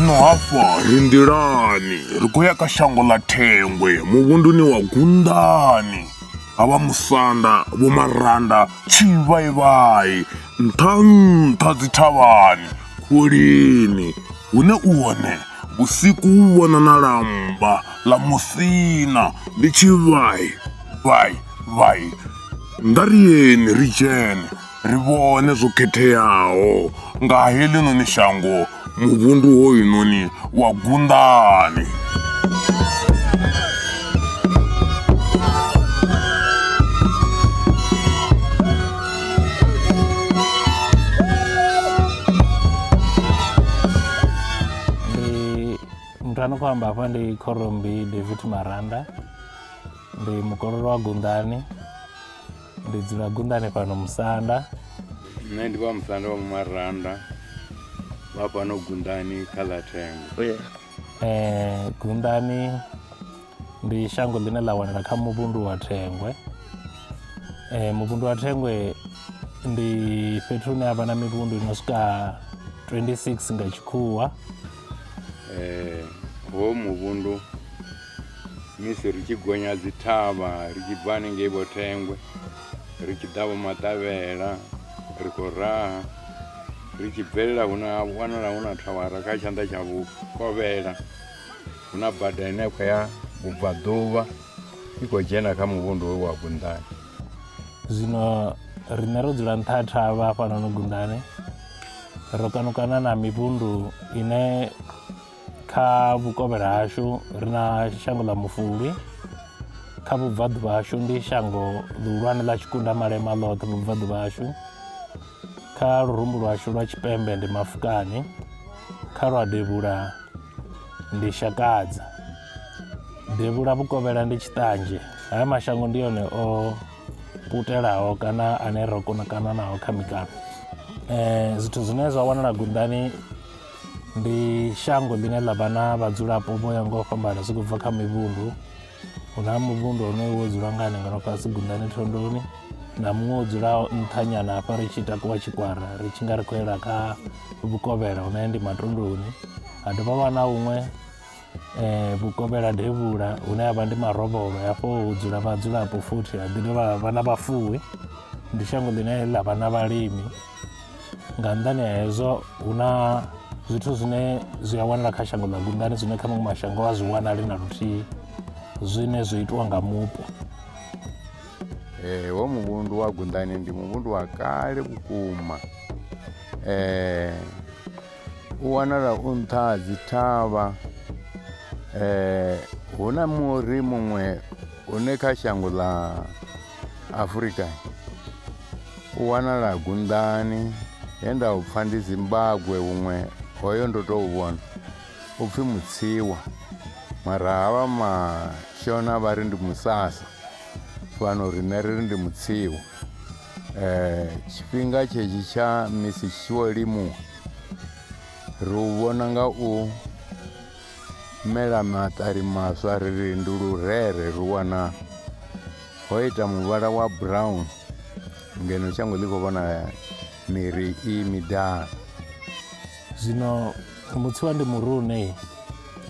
zwino hafha ri nḓilani ri khou ya kha shango ḽa thengwe muvhunduni wa gunḓani havha musanda vho maranda tshivhaivhai nṱha nṱha dzithavhani khulini hune u hone vhusiku u vhona na lamba ḽa musina ndi tshivhai vai vai nda ri yeni ri dzhene ri vhone zwo khetheaho nga heḽinoni shango muvhundu hoyunoni wa gunḓani a no khou amba hafha ndi khorombi david maranda ndi mukololo wa gunḓani ndi dzula gundane fhano musanda nṋe ndi vha musanda wa mumaranda vha fhano gundani kha ḽa thengo oh, um eh, gundani ndi shango ḽine ḽa wanala kha muvhundu wa thengwe um muvhundu wa thengwe ndi fhethu hune ha vha na mivhundu ino swika 26 nga tshikhuwa um eh, ho muvhundu misi ri tshi gonya dzi thavha ri tshi bva hanengei vho thengwe ri tshi ḓa vho maṱavhela ri khou raha ri tshi bvelela hu na wanala hu na thawara kha tshanḓa tsha vhukovhela hu na bada ine khou ya vhubvaḓuvha i khou dzhena kha muvhundu we wa gundani zwino riṋe ro dzula nṱha thavha hafhanoni gundani ro kanukana na mivhundu ine kha vhukovhela hashu ri na shango ḽa mufulwi kha vhubvaḓuvha hashu ndi shango ḽihulwane ḽa tshikunda malema ḽoṱhe vhubvaḓuvha hashu kha lurumbu lwashu lwa tshipembe ndi mafukani kha lwa devhula ndi shakadza devhula vhukovhela ndi tshiṱanzhe haya mashango ndi yone o putelaho kana ane ro kona kana naho kha mikano um zwithu zwine zwa wanala gundani ndi shango ḽine ḽa vha na vhadzulapo vho ya nga u fhambana zwi khou bva kha mivhundu hu na muvhundu honoyo wo dzula nga hanenga no fhasi gundani thondoni na muṅwe wo dzula nṱhanyana hafha ri tshi takuwa tshikwara ri tshi nga ri khou yela kha vhukovhela hune ndi matunduni ha dovha vha na huṅwe eh, vhukovhela devhula hune ha vha ndi marovholo hafho hu dzula vhadzulapo futhi ha ḓi dovha vha na vhafuwi ndi shango ḽine ḽa vha na vhalimi nga nnḓani ha hezwo hu na zwithu zwine zwi a wanala kha shango ḽa gundani zwine kha maṅwe mashango a zwi wanali na luthihi zwine zwi itiwa nga mupo eh, wo muvhundu wa gundani ndi muvhundu wa kale vhukuma eh, u wanala u nṱha ha dzi thavha hu na muri muṅwe une kha shango ḽa afurika u wanala gunḓani he nda u pfha ndi zimbabwe huṅwe hoyo ndo tou vhona u pfhi mutsiwa mara havha mashona vha ri ndi musasa fhano riṋe ri ri ndi mutsiwa Eh, tshifhinga tshetsho tsha misi tshi tshi vho limuwa ri u vhona nga u mela maṱari maswa ri ri ndi lurere ri wana ho ita muvhala wa brown ngeno shango ḽi khou vhona miri i midala zwino mutsiwa ndi murune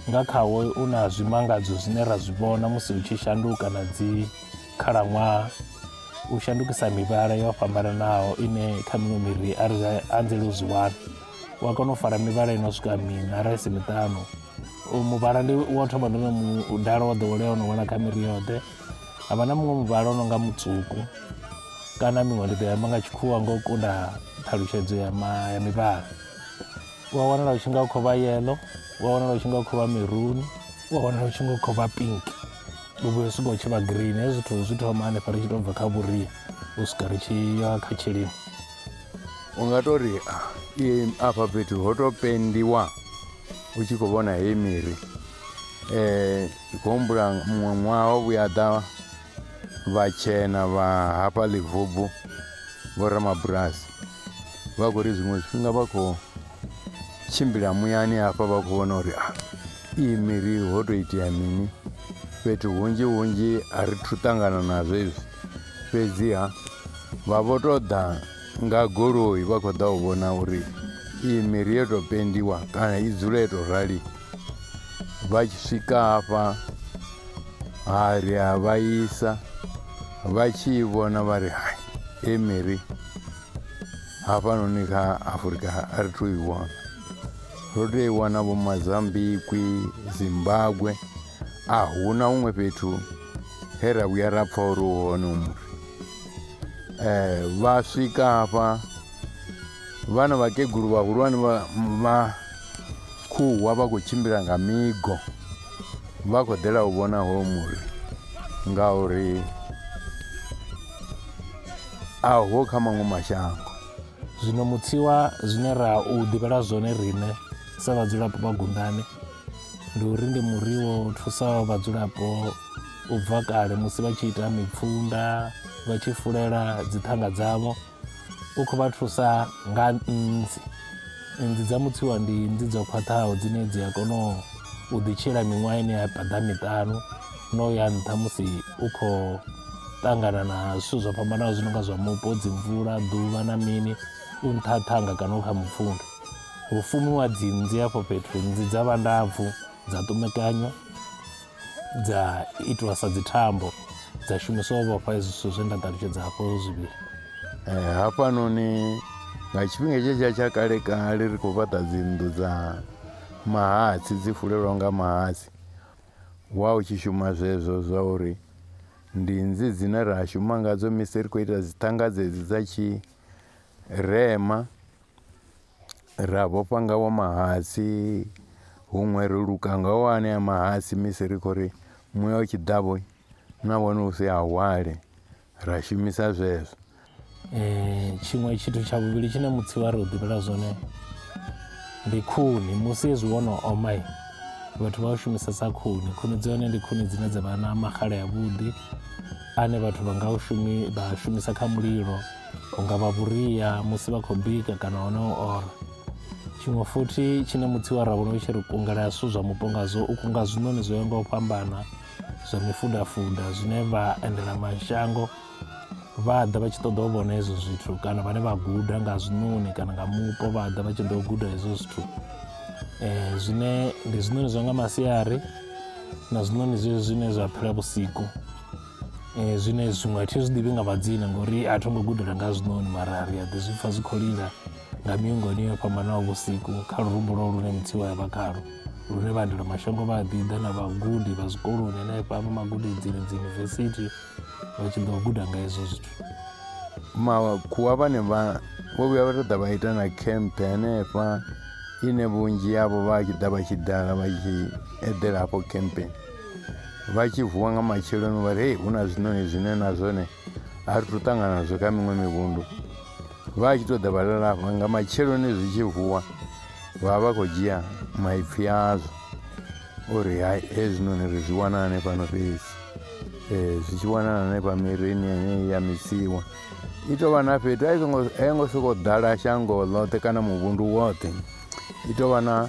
nga khawo u na zwimangadzo zwine ra zwi vhona musi hu tshi shanduka na dzi Khalaṅwaha, u shandukisa mivhala yo fhambananaho ine kha miṅwe miri a ri anzeli u zwi wana u a kona u fara mivhala ino swika miṋa ra isi miṱanu muvhala ndi wa thoma ndi no mudala wa ḓowelea ono wana kha miri yoṱhe ha vha na muṅwe muvhala o no nga mutswuku kana miṅwe ndi ḓo yamba nga tshikhuwa nga u kunda ṱhalutshedzo ya mivhala u a wanala u tshi nga u khou vha yellow u a wanala u tshi nga u khou vha meruni u a wanala u tshi nga u khou vha pink. u vhuya u swika u tshi vha green hezwi zwithu zwi thoma hanefha ri tshi tou bva kha vhuria u swika ri tshi ya kha tshilimo u nga tou ri afha fhethu ho tou pendiwa u tshi khou vhona heyi miri um ndi khou humbula muṅwe ṅwaha o vhuya ḓa vhatshena vha hafha ḽivubvu vho ramabulasi vha khou ri zwiṅwe zwifhinga vha khou tshimbila muyani hafha vha khou vhona uri a Iyi miri ho tou itea mini? Fhethu hunzhi hunzhi a ri thu ṱangana nazwo izwi fhedziha vha vho tou ḓa nga goloi vha khou ḓa u vhona uri iyi miri yo tou pendiwa kana i dzule yo tou rali vha tshi swika hafha ha ri a vha isa vha tshi i vhona vha ri hai hei miri hafhanoni kha afurika a ri thu i wana ro tea i wana vho mazambikwi zimbabwe a hu na huṅwe fhethu he ra vhuya ra pfha uri u hone u muri eh, um vha swika hafha vhana vhakegulu vhahulwane vha khuwa vha khou tshimbila nga migo vha khou ḓela u vhona hoyo muri ngauri a ho kha maṅwe mashango zwino mutsiwa zwine ra u ḓivhela zwone riṋe sa vhadzulapo vha gundane ndi uri ndi muri wo thusaho vhadzulapo u bva kale musi vha tshi ita mipfunda vha tshi fulela dzithanga dzavho u khou vha thusa nga nnzi nnzi dza mutsiwa ndi nnzi dzo khwaṱhaho dzine dzi a kona u ḓitshila miṅwaha ine ya paḓa miṱanu no ya nṱha musi u khou ṱangana na zwithu zwo fhambanaho zwi no nga zwa mupo dzi mvula ḓuvha na mini u nṱha ṱhanga kana u kha mupfunda hu fumiwa dzi nnzi afho fhethu nnzi dza vha ndapfu dza ṱumekanywa dza itiwa sa dzi thambo dza shumiswa u vhofha hezwi zwithu zwe nda ṱalutshedza hafho zwivhili eh, hafhanoni nga tshifhinga tshetsha tsha kale kale ri khou fhaṱa dzinnḓu dza mahatsi dzi fulelwa nga mahatsi Wa u tshi shuma zwezwo zwa uri ndi nnzi dzine ra shuma ngadzo misi ri khou ita dzi ṱhanga dzedzi dza tshi rema ra vhofha nga wa mahatsi huṅwe ri luka nga wa anea mahatsi misi ri khou ri muya u tshi ḓa vho na wana u si a hwale ra shumisa zwezwo um tshiṅwe tshithu tsha vhuvhili tshine mutsi wa ri u ḓivhela zwone ndi khuni musi hezwi wo no omai vhathu vha u shumisesa khuni khuni dzi hone ndi khuni dzine dza vha na maxhala ya vhuḓi ane vhathu vha nga u shumi vha shumisa kha mulilo u nga vha vhuria musi vha khou bika kana hone u ora tshiṅwe futhi tshine mutsi wa ravhona u tshi ri kungela zwithu zwa mupo ngazwo u kunga zwiṋoni zwo ya nga u fhambana zwa mifudafuda zwine vha endela mashango vha ḓa vha tshi ṱoḓa u vhona hezwo zwithu kana vhane vha guda nga zwiṋoni kana nga mupo vha ḓa vha tshi ḓo guda hezwo zwithu um zwine ndi zwiṋoni zwa nga masiari na zwiṋoni zwezwi zwine zwa phela vhusiku um zwine zwiṅwe a thi zwi ḓivhi nga madzina ngori a tho ngo gudela nga zwiṋoni mara ri a ḓi zwi pfha zwi khou lila nga miungoni yo fhambanaho vhusiku kha lurumbu lwo lune mudzimu a vha khalo lune vhaendelamashango vha a ḓi ḓa na vhagudi vha zwikoloni hanefha vha magudedzini dzi yunivesithi vha tshi ḓo guda nga hezwo zwithu makhuwa vhane vha vho vhuya vha ṱoḓa vha ita na khempe hanefha ine vhunzhi yavho vha tshi ḓa vha tshi dala vha tshi eḓela hafho khempeni vha tshi vuwa nga matsheloni vha ri hei hu na zwiṋoni zwine na zwone a ri thu ṱangana nazwo kha miṅwe mivhundu vha tshi ṱoḓa vha lalafha nga matsheloni zwi tshi vuwa vha vha khou dzhia maipfhi azwo uri hai hezwinoni ri zwi wana hanefhano fhedzi um zwi tshi wanala hanefha mirini yeneyi ya misiwa i tou vha na fhethu a i songo a yo ngo sokou ḓala shango ḽoṱhe kana muvhundu woṱhe i tou vha na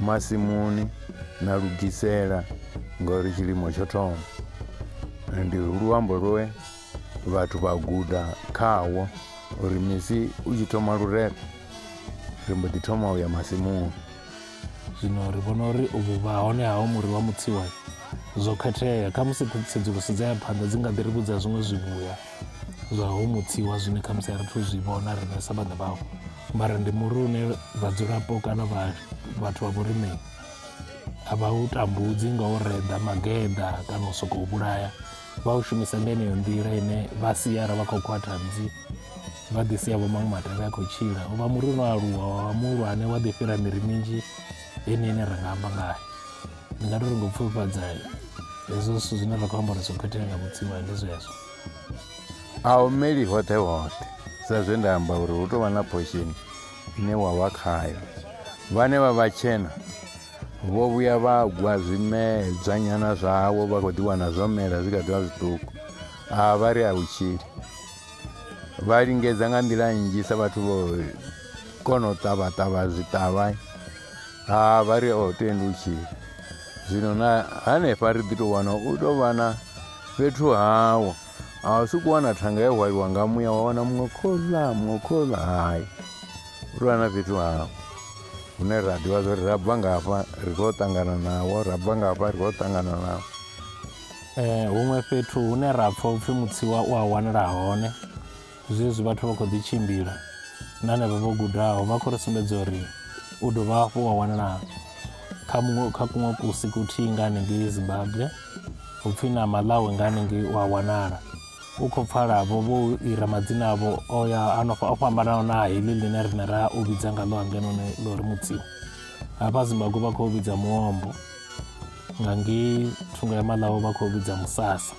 masimuni na lugisela ngori tshilimo tsho thoma ndi luambo lwe vhathu vha guda khawo uri misi u tshi thoma lurere ri mbo ḓi thoma u ya masimuni zwino ri vhona uri u vhuvha hone hawo muri wa mutsiwa zwo khethea kha musi tsedzuluso dza ya phanḓa dzi nga ḓi ri vhudza zwiṅwe zwivhuya zwa ho mutsiwa zwine khamusi a ri thu zwi vhona riṋe sa vhaṋe vhawo mara ndi muri une vhadzulapo kana vhathu vha vhorimei a vha u tambudzi nga u reda mageda kana u sokou vhulaya vha u shumisa nga eneyo nḓila ine vha siara vha khou khwaṱha dzi vha ḓi sia vho maṅwe matavhi a khou tshila u vha muri uno aluwa wa muhulwane wa ḓi fhira miri minzhi ine ine ra nga amba ngayo ndi nga tori ngo pfufhadza hezwo zwithu zwine ra khou amba uri zwo khethea nga vhutsilu ndi zwezwo a u meli hoṱhe hoṱhe sa zwe nda amba uri hu tou vha na phosheni ine wa vha khayo vhane vha vha tshena vho vhuya vha gwa zwimedzwa nyana zwawo vha khou ḓiwana zwo mela zwi kha ḓivha zwiṱuku a vha ri a utshili vha lingedza nga nḓila nnzhi sa vhathu vho kona u ṱavha ṱavha zwiṱavha Ha vha ri o tendutshila. Zwino na hanefha ri ḓi tou wana u tou vha na fhethu hawo. A u sokou wana thanga ya hwaliwa nga muya wa wana muṅwe khoḽa muṅwe khoḽa hai. U tou vha na fhethu hawo hune ra ḓivha zwa uri ra bva ngafha ri khou ṱangana nawo ra bva ngafha ri khou ṱangana nawo. Eh, huṅwe fhethu hune ra pfha upfhi mutsiwa u a wanala hone Zwezwi vhathu vha khou ḓi tshimbila na henevha vho gudaho vha khou ri sumbedza uri u dovha hafhu wa wanala kha muṅwe kha kuṅwe kusi kuthihi nga hanengei zimbabwe upfhi na malawi nga hanengei u a wanala u khou pfalavo vho ira madzina avho o ya anofha o fhambanaho na heḽi ḽine rine ra u vhidza nga ḽo hangenoni ḽo ri mutsimu hafha zimbabwe vha khou vhidza muombo nga ngei thungo ya malawi vha khou vhidza musasa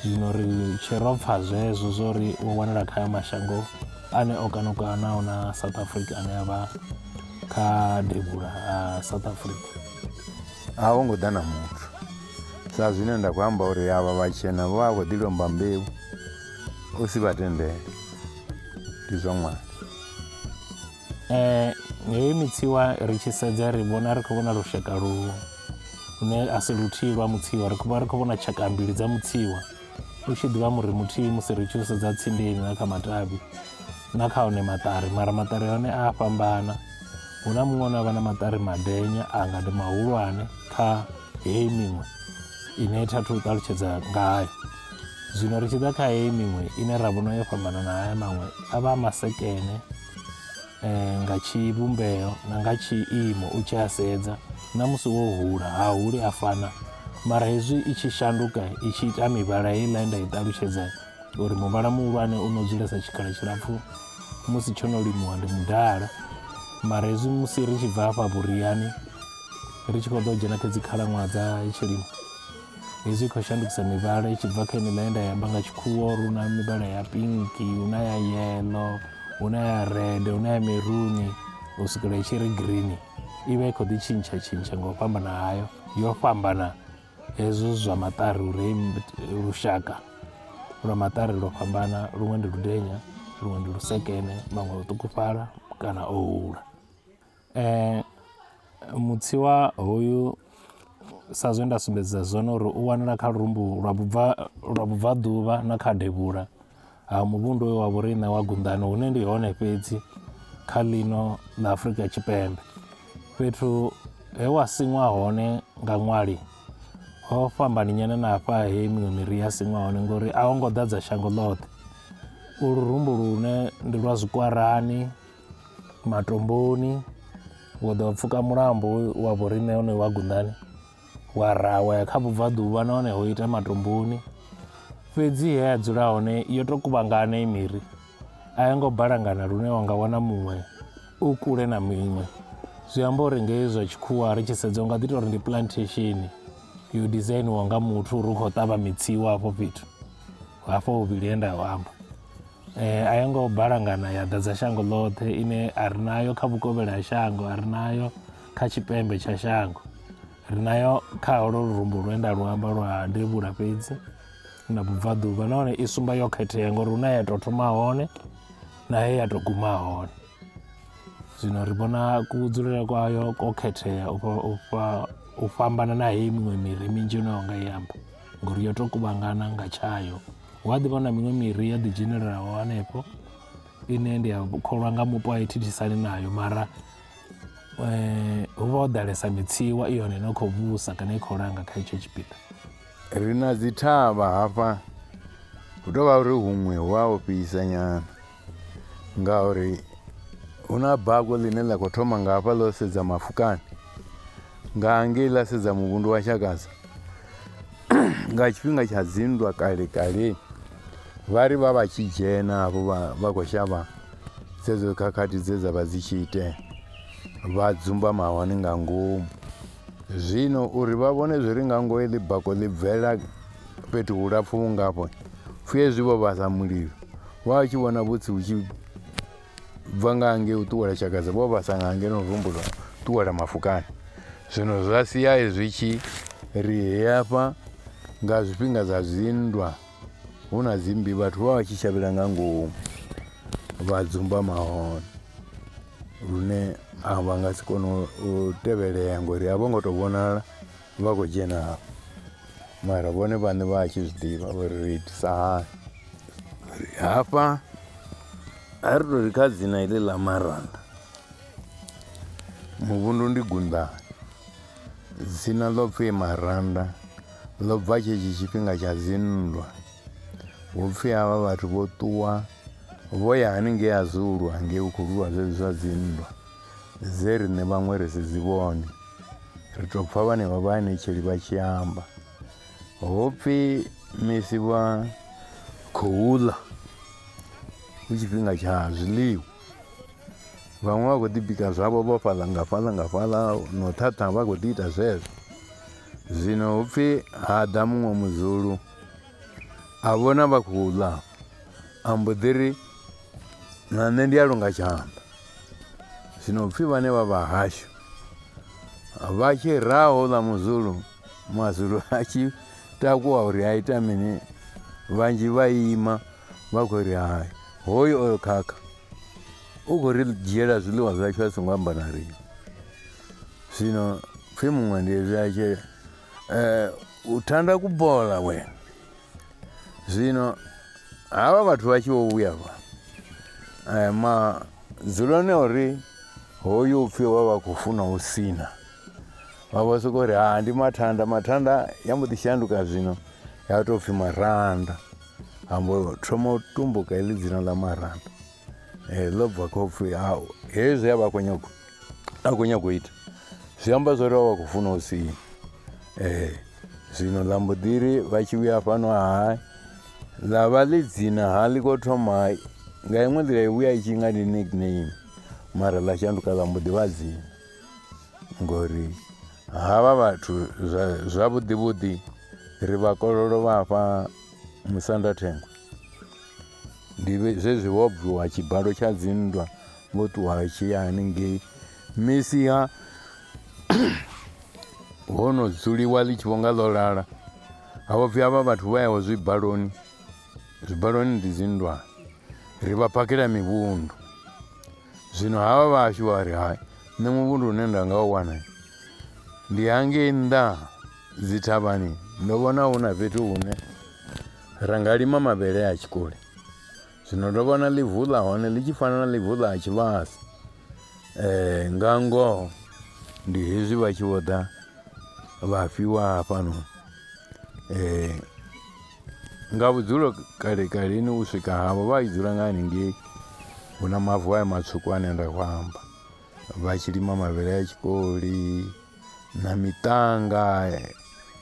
zwino ri tshe ro pfa zwezwo zwo ri wo wanala kha ya mashango ane o kanukanaho na south africa ane a vha kha devhula ha south africa a ho ngo ḓa na muthu sa zwine nda khou amba uri avha vhatshena vho vha khou ḓi lomba mbeu u si vha tendele ndi zwa ṅwana Eh, heyi mitsiwa ri tshi sedza ri vhona ri khou vhona lushaka lu lune a si luthihi lwa mutsiwa ri khou ri khou vhona tshaka mbili dza mutsiwa u tshi ḓivha muri muthihi musi ri tshi u sedza tsindeni na kha matavhi na kha one maṱari mara maṱari a hone a a fhambana hu na muṅwe une avha na maṱari madenya a nga ndi mahulwane kha heyi miṅwe ine tha thu ṱalutshedza ngayo zwino ri tshi ḓa kha heyi miṅwe ine ra vhona yo fhambana na haya maṅwe a vha a masekene eh, nga tshivhumbeo na nga tshiimo u tshi a sedza na musi wo hula ha huli a fana mara hezwi i tshi shanduka i tshi ita mivhala heiḽa nda i ṱalutshedza uri muvhala muhulwane u no dzulesa tshikhala tshilapfhu musi tsho no limuwa ndi mudala mara hezwi musi ri tshi bva hafha vhuriani ri tshi khou ḓo dzhena kha dzi khalaṅwaha dza tshilimo hezwi i khou shandukisa mivhala i tshi bva kha ine nda ya amba nga tshikhuwa uri una mivhala ya pinki una ya yelo una ya red una ya meruni u swikela i tshi ri green i vha i khou ḓi tshintsha tshintsha nga u fhambana hayo yo fhambana hezwo zwa maṱari uri lushaka lwa maṱari lwo fhambana luṅwe ndi ludenya luṅwe ndi lusekene maṅwe o ṱukufhala kana o hula Ee, mutsi wa hoyu sa zwe nda sumbedza zwone uri u wanala kha lurumbu lwa vhubva lwa vhubvaḓuvha na kha devhula ha muvhundu wa vhoriṋe wa Gundani hune ndi hone fhedzi kha ḽino ḽa Afrika Tshipembe. Fhethu he wa siṅwa hone nga ṅwali ho fhambani nyana na hafha he miṅwe miri ya siṅwa hone ngori a ho ngo ḓadza shango ḽoṱhe. Ulu rumbu lune ndi lwa zwikwarani. matomboni wa ḓo pfuka mulambo wa vhoriṋe hone wa gundani wa ra wa ya kha vhubvaḓuvha nahone ho ita matomboni fhedzi he ya dzula hone yo tou kuvhangana i miri a yo ngo balangana lune wa nga wana muṅwe u kule na miṅwe zwi amba uri ngei zwa tshikhuwa ri tshi sedza u nga ḓi tou ri ndi plantation yo dizainiwa nga muthu uri u khou ṱavha mitsiwa afho fhethu hafho vhuvhili he nda amba Eh, a yo ngo balangana ya ḓadza shango ḽoṱhe ine a ri nayo kha vhukovhela ha shango a ri nayo kha tshipembe tsha shango ri nayo kha holo lurumbu lwenda luamba lwa devhula fhedzi na bubvaḓuvha nahone i sumba yo khethea ngori hu na ya tou thoma hone na he ya tou guma hone zwino ri vhona kudzulele kwayo ko khethea u fhambana na heyi miṅwe miri minzhi ine yo nga i amba ngori yo tou kuvhangana nga tshayo hu a ḓi vha na miṅwe miri ya ḓi dzhenelelaho hanefho ine ndi a kholwa nga mupo a i thithisani nayo mara hu vha ho ḓalesa mitsiwa i yone ine khou vhusa kana i khou langa kha itsho tshipiḓa ri na dzi thavha hafha hu tovha uri huṅwe hu a ofhisa nyana ngauri hu na bago ḽine ḽa khou thoma nga hafha ḽo sedza mafukani nga ngei ḽa sedza muvhundu wa shakaza nga tshifhinga tsha dzinndwa kale kale vha ri vha vha tshi dzhena hafho vha khou shavha dzedzo khakhathi dze dza vha dzi tshi itea vha dzumba mahone nga ngomu zwino uri vha vhone zwi ri nga ngoho ḽi bako ḽi bvela fhethu hulapfu vhungafho pfhi hezwi vho vhasa mulilo wa u tshi vhona vhutsi hu tshi bva nga hange u ṱuwela tshakadza vho vhasa nga hange no rumbula ṱuwela mafukani zwino zwa sia zwi tshi ri heyafha nga zwifhinga zwa zwinndwa hu na dzimmbi vhathu vha vha tshi shavhela nga ngomu vha dzumba mahone lune a vha nga si kone u tevhelea ngori a vho ngo tou vhonala Vha khou dzhena mara vhone vhaṋe vha tshi zwi ḓivha uri ri itisa hani hafha a ri tori kha dzina heḽi ḽa maranda muvhundu ndi gunḓani dzina ḽo pfhi maranda ḽo bva tshetsho tshifhinga tsha dzinndwa hu pfhi havha vhathu vho ṱuwa vho ya haningei a zulu hangei hu khou lwiwa zwezwi zwa dzinndwa dze riṋe vhaṅwe ri si dzi vhone ri tou pfa vhanevha vhaanetsheli vha tshi amba ho pfhi misi vha khou ḽa hu tshifhinga tsha zwiḽiwa vhaṅwe vha khou ḓi bika zwavho vho fhaḽa nga fhaḽa nga fhaḽa no ṱhaṱha vha khou ḓi ita zwezwo zwino hu pfhi ha ḓa muṅwe muzulu a vhona vha khou ḽa a mbo ḓi ri na nṋe ndi a longa tshanḓa Zwino pfi vhane vha vha hashu vha tshi raha houḽa muzulu mazulu a tshi takuwa uri a ita mini vhanzhi vha ima vha khou ri hai hoyu oyo khakha u khou ri dzhiela zwiḽiwa zwashu a songo amba na riṋe zwino pfhi muṅwe ndi ezwi a tshi um u thanda kubola wena zwino havha vhathu vha tshi vho vhuya vha eh, madzuloni a uri hoyu upfhi vha vha khou funa u sina vha vho soko uri ha ndi mathanda mathanda ya mbo ḓi shanduka zwino ya tou pfhi maranda ambo thoma u tumbuka heḽi dzina ḽa maranda Eh, ḽo bva kha upfhi hau hezwi a vha khou nyago a khou nyago ita zwi amba zwa uri vha vha khou funa u sini um eh, zwino ḽa mbo ḓiri vha tshi vhuya fhano hai ḽa vha ḽi dzina ha ḽi khou thoma nga iṅwe nḓila i vhuya i tshi nga ndi nickname mara ḽa shanduka ḽa mbo ḓi vha dzina ngori havha vhathu zwavhuḓi vhuḓi ri vha kololo vha fha musanda thengwe Ndi zwezwi ho bviwa tshibalo tsha dzinndwa vho ṱuwa tshi ya haningei misia ho no dzuliwa ḽi tshi vhonga ḽo lala ha vho pfhi havha vhathu vha yaho zwibaloni zwibaloni ndi dzinndwa ri vha phakhela mivhundu zwino havha vhashu vha ri hai nṋe muvhundu une nda nga u wana ndi hangei nnḓa dzithavhani ndo vhona hu na fhethu hune Ra nga lima mavhele a tshikoli zwino ndo vhona ḽivu ḽa hone ḽi tshi fana na ḽivu ḽa tshivhasa eh, nga ngoho ndi hezwi vha tshi vho ḓa vha fhiwa hafhano eh, nga vhudzulo kale kaleni u swika havho vha i dzula nga haningei hu na mavu ayo matswuku ane nda khou amba vha tshi lima mavhele a tshikoli na miṱanga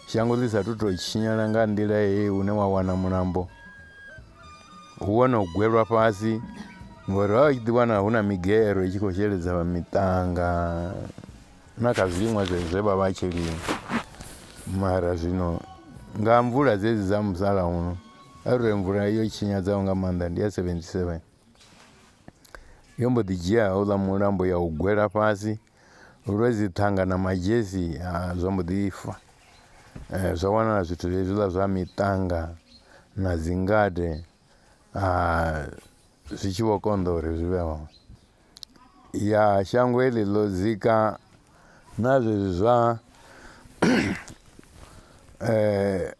shango ḽi sa tu to tshinyala nga nḓila ye une wa wana mulambo hu wono gwelwa fhasi ngori vha tshi ḓiwana hu na migero i tshi khou sheledza vha miṱanga na kha zwiḽiṅwa zwezwe vha vha tshi lima mara zwino nga mvula dzedzi dza musalauno arali mvula yo tshinyadza nga maanḓa ndi ya seventy seven. yo mbo ḓi dzhia houḽa mulambo ya u gwela fhasi lwe dzi ṱhanga na madzhesi ha zwa mbo ḓi fa zwa wanala zwithu hezwiḽa zwa miṱanga na dzi ngade zwi tshi vho konḓa uri zwi vhe hone. Ya shango heḽi ḽo dzika na zwezwi zwa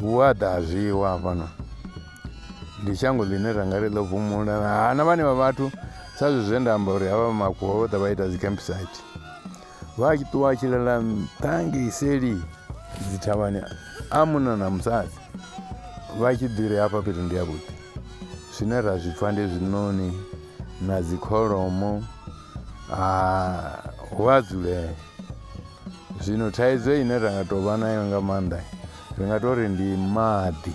Hu a ḓa zwiwa hafhano ndi shango ḽine ra nga ri ḽo vhumula hana vhane vha vhathu sa zwi zwe nda amba uri havha makhuwa vho ḓa vha ita dzi campsite vha tshi ṱuwa tshi ḽela nṱha ngei seli dzi thavhani a munna na musadzi vha tshi ḓiri hafha fhethu ndi ya vhuḓi zwine ra zwi pfha ndi zwiṋoni na dzi kholomo Ah, hu a dzulea zwino thaidzo ine ra nga tou vha nayo nga maanḓa ri nga tou ri ndi maḓi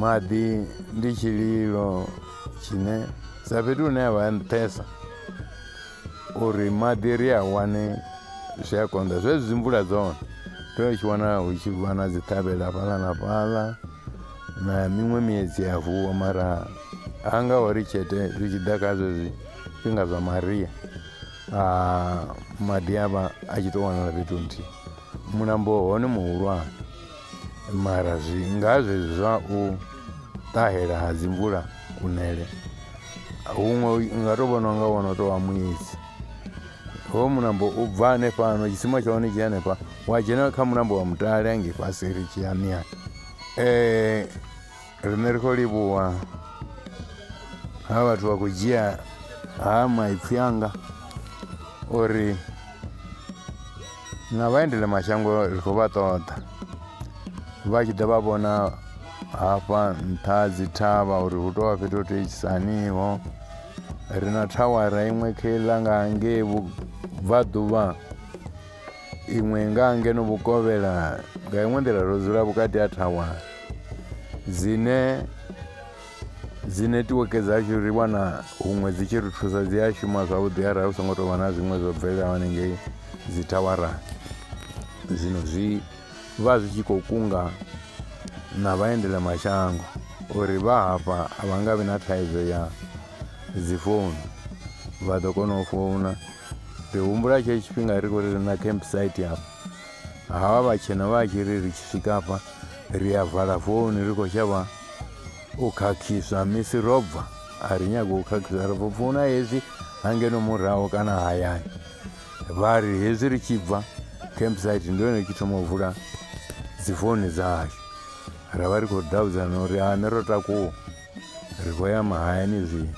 maḓi ndi tshililo tshine sa fhethu hune a vha a nṱhesa uri maḓi ri a wane zwi a konḓa zwezwi dzi mvula dzone ri tshi wana hu tshi vha na dzi ṱhavhela fhaḽa na fhaḽa na miṅwe miedzi ya vuwa mara ha nga ho ri tshete zwi tshi ḓa kha zwezwi zwifhinga zwa maria maḓi a vha a tshi tou wanala fhethu nthihi mulambo hone muhulwane mara zwi nga zwezwi zwa u ṱahela ha dzimvula kunele huṅwe nga tou vhona nga wono tou wa muedzi ho mulambo u bva hanefhano tshisima tsha hone tshi hanefha wa dzhena kha mulambo wa mutale hange fhasi ri tshi ya miyani um eh, Riṋe ri khou livhuwa ha vhathu vha khou dzhia ha maipfhi anga uri na vhaendele mashango ri khou vha ṱoḓa vha tshi ḓa vha vhona hafha nṱha dzi thavha uri hu tovha fhethu ho teisaniho ri na thawara iṅwe kheiḽa nga ngei vhubvaḓuvha iṅwe nga ngeno vhukovhela nga iṅwe nḓila ro dzula vhukati ha thawa dzine dzi netiweke dzashu ri wana huṅwe dzi tshi ri thusa dzi a shuma zwavhuḓi arali hu songo tou vha na zwiṅwe zwo bvelelaho hanengei dzi thawarani zwino zwi vha zwi tshi khou kunga na vhaendela mashango uri vha hafha a vha nga vhi na thaidzo ya dzi founu vha ḓo kona u founa Ri humbula tshetsho tshifhinga ri khou ri na camp site hafha havha vhatshena vha tshi ri ri tshi swika hafha ri a vala founu ri khou shavha u khakhiswa misi ro bva a ri nyago u khakhiswa ri founa hezwi hangeno muraho kana hayani vha ri hezwi ri tshi bva camp site ndi yone tshi thoma u vula dzi founu dza hashu ra vha ri khou davhudzana uri ane ro takuwa ri khou ya mahayani zwino